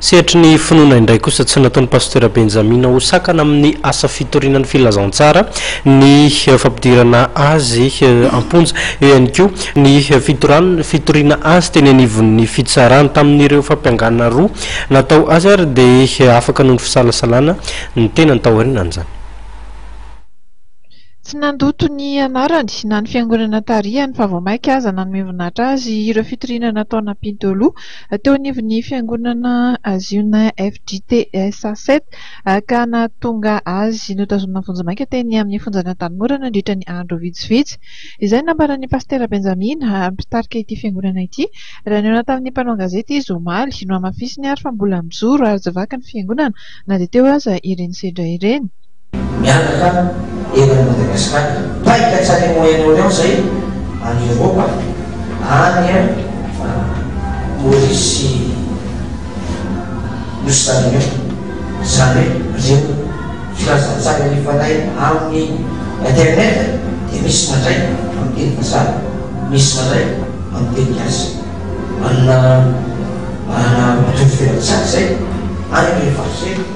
Sehatry ny finoana indray kosa tsy nataon'i Pasitera Benjamina ho sakana amin'ny asa fitoriana ny filazantsara ny fampidirana azy am-ponja. Eo ihany koa ny fitorany fitoriana azy teny anivon'ny fitsarana. Tamin'ireo fampiangana roa natao azy ary dia afaka noho ny fisalasalana ny tenany taorianan'izany. Tsy nandoto ny anarany na ny fiangonana tarihany fa vao mainka aza nanome voninahitra azy ireo fitoriana nataon'Ampinto Loha. teo anivon'ny fiangonana Ziona FJTS Aset ka nahatonga azy notazonina vonjimaika teny amin'ny fonjan'i Antanimora nandritra ny andro vitsivitsy, izay nambaran'ny Pasitera Benjamina, mpitarika ity fiangonana ity. Raha nihaona tamin'ny mpanao gazety izy omaly, nohamafisiny ary fa mbola mijoro ary tsy vaky ny fiangonana na dia teo aza ireny sedra ireny. mianaka eran'i Madagascar mipaika hatrany amin'ny Moyen Orient zay any Europa any Maurice sy New Stalinion zany hoe reo filazantsara alefanay amin'ny internet dia misy mandray amin'ny teny vazaha misy mandray amin'ny teny gasy manana manana mitovy filantsary zay any le farce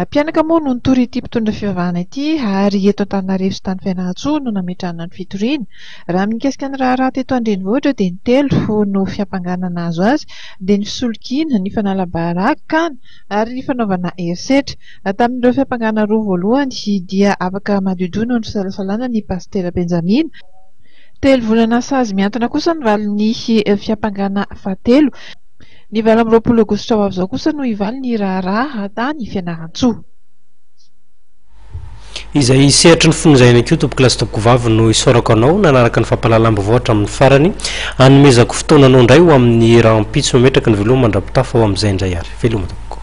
Mpianaka moa no nitory ity mpitondra fivavahana ity ary eto Antananarivo sy tany Fianarantsoa no nametrahana ny fitoriana. Raha ny mikasika ny raharaha teto an-drenivohitra dia ny telo no fiampangana nahazo azy dia ny fisolokiana, ny fanala-baraka kana ary ny fanaovana herisetra. Tamin'ireo fiampangana roa voalohany dia afaka madiodio noho ny fisalasalana ny Pasitera Benjamina. Telo volana sazy mihantona kosa no valin'ny fiampangana fahatelo. Ny valo amby roapolo aogositra ho avy izao kosa no hivaly ny raharaha tany Fianarantsoa. Izay sehatry ny fonjaina koa tompokolahy sy tompokovavy no isaorako anao nanaraka ny fampahalalam-baovao hatramin'ny farany. Hanomezako fotoana anao indray ho amin'ny rahampitso mametraka ny veloma mandra-pitafa ho amin'izay indray ary. Veloma tompoko.